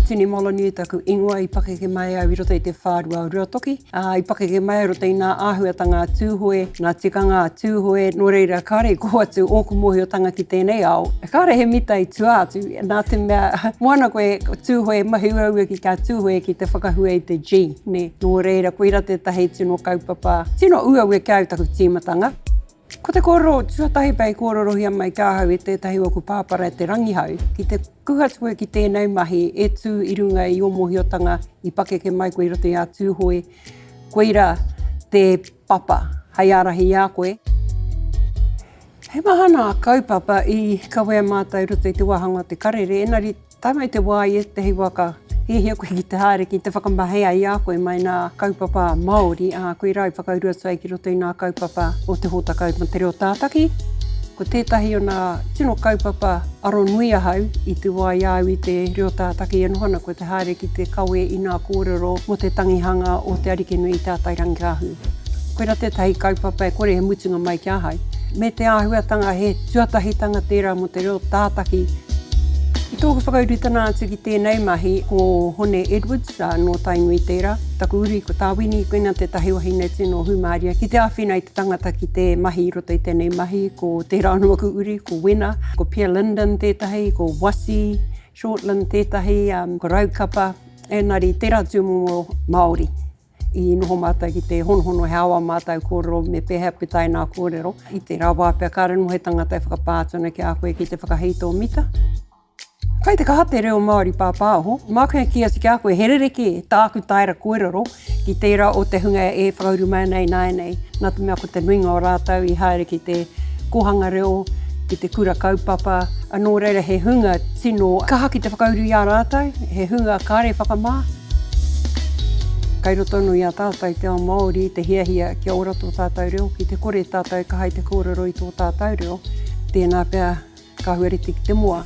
Tini Molonui taku ingoa i pakeke mai au i roto i te whārua o Ruatoki. Ā, i pakeke mai au roto i ngā āhuatanga a Tūhoe, ngā tikanga a Tūhoe, nō reira kāre i koho atu ōku mōhiotanga ki tēnei ao. Kāre he mita i tua atu, Nā te mea, moana koe, Tūhoe, mahi uaua ki kā Tūhoe ki te whakahua i te G, nē. Nō reira, koira tētahi tino kaupapa, tino uaua ki au taku tīmatanga. Ko te kōrero tuatahi pea i kōrerohia mai ki ahau e tētahi o aku pāpara e Te Rangihau, ki te kū atu koe ki tēnei mahi e tū i runga i ō mōhiotanga i pakeke mai koe i roto i a Tūhoe, koira te Papa, hei ārahi i a koe. He maha nā kaupapa i kawea mātou i roto i te wāhanga o te karere, engari tae mai te wā i ētahi wā ka hiahia koe ki te haere ki te whakamahea i a koe mai nā kaupapa Māori, ā, koe rā i whakauru atu ai ki roto i nā kaupapa o te hōtaka mō te reo tātaki. Ko tētahi o nā tino kaupapa aro nui ahau i te wā i a au i te reo tātaki e noho ana, ko He haere ki te kawe i ngā kōrero mō te tangihanga o Te Arikinui i Te Atairangikaahu. Koirā tētahi kaupapa e kore he mutunga mai ki ahau. Me te āhuatanga he tuatahitanga tērā mō te reo tātaki. I tōku whakaurutana atu ki tēnei mahi, ko Hone Edwards, nō Tainui tērā, taku uri ko Tāwini, koinā tētahi wahine tino hūmārie ki te āwhina i te tangata ki te mahi i roto i tēnei mahi, ko tērā anō aku uri, ko Wena, ko Pia Linden tētahi, ko Wasi, Shortland tētahi raukapa engari tera tūmomo Māori i noho mātou ki te honohono he awa mātou kōrero me pēhea pū taina kōrero i te rā wā pea kāre noho he tangata e whakapā atu ana ki a koe ki te whakahei tō mita. Kai te kaha te reo Māori pāpāho, māku e kī atu ki a koe he rerekē tāku taera kōrero Ki tērā o te hunga e whakauru mai ana ināianei, nā te mea ko te nuinga o rātou i haere ki te kōhanga reo, ki te kura kaupapa, nō reira he hunga tino kaha ki te whakauru i a rātou, he hunga kāre whakamā. Kai roto anō i a tātou te ao Māori te hiahia kia ora tō tātou reo, ki te kore tātou e kaha i te kōrero i tō tātou reo, tēnā pea Ka huarite ki te moa.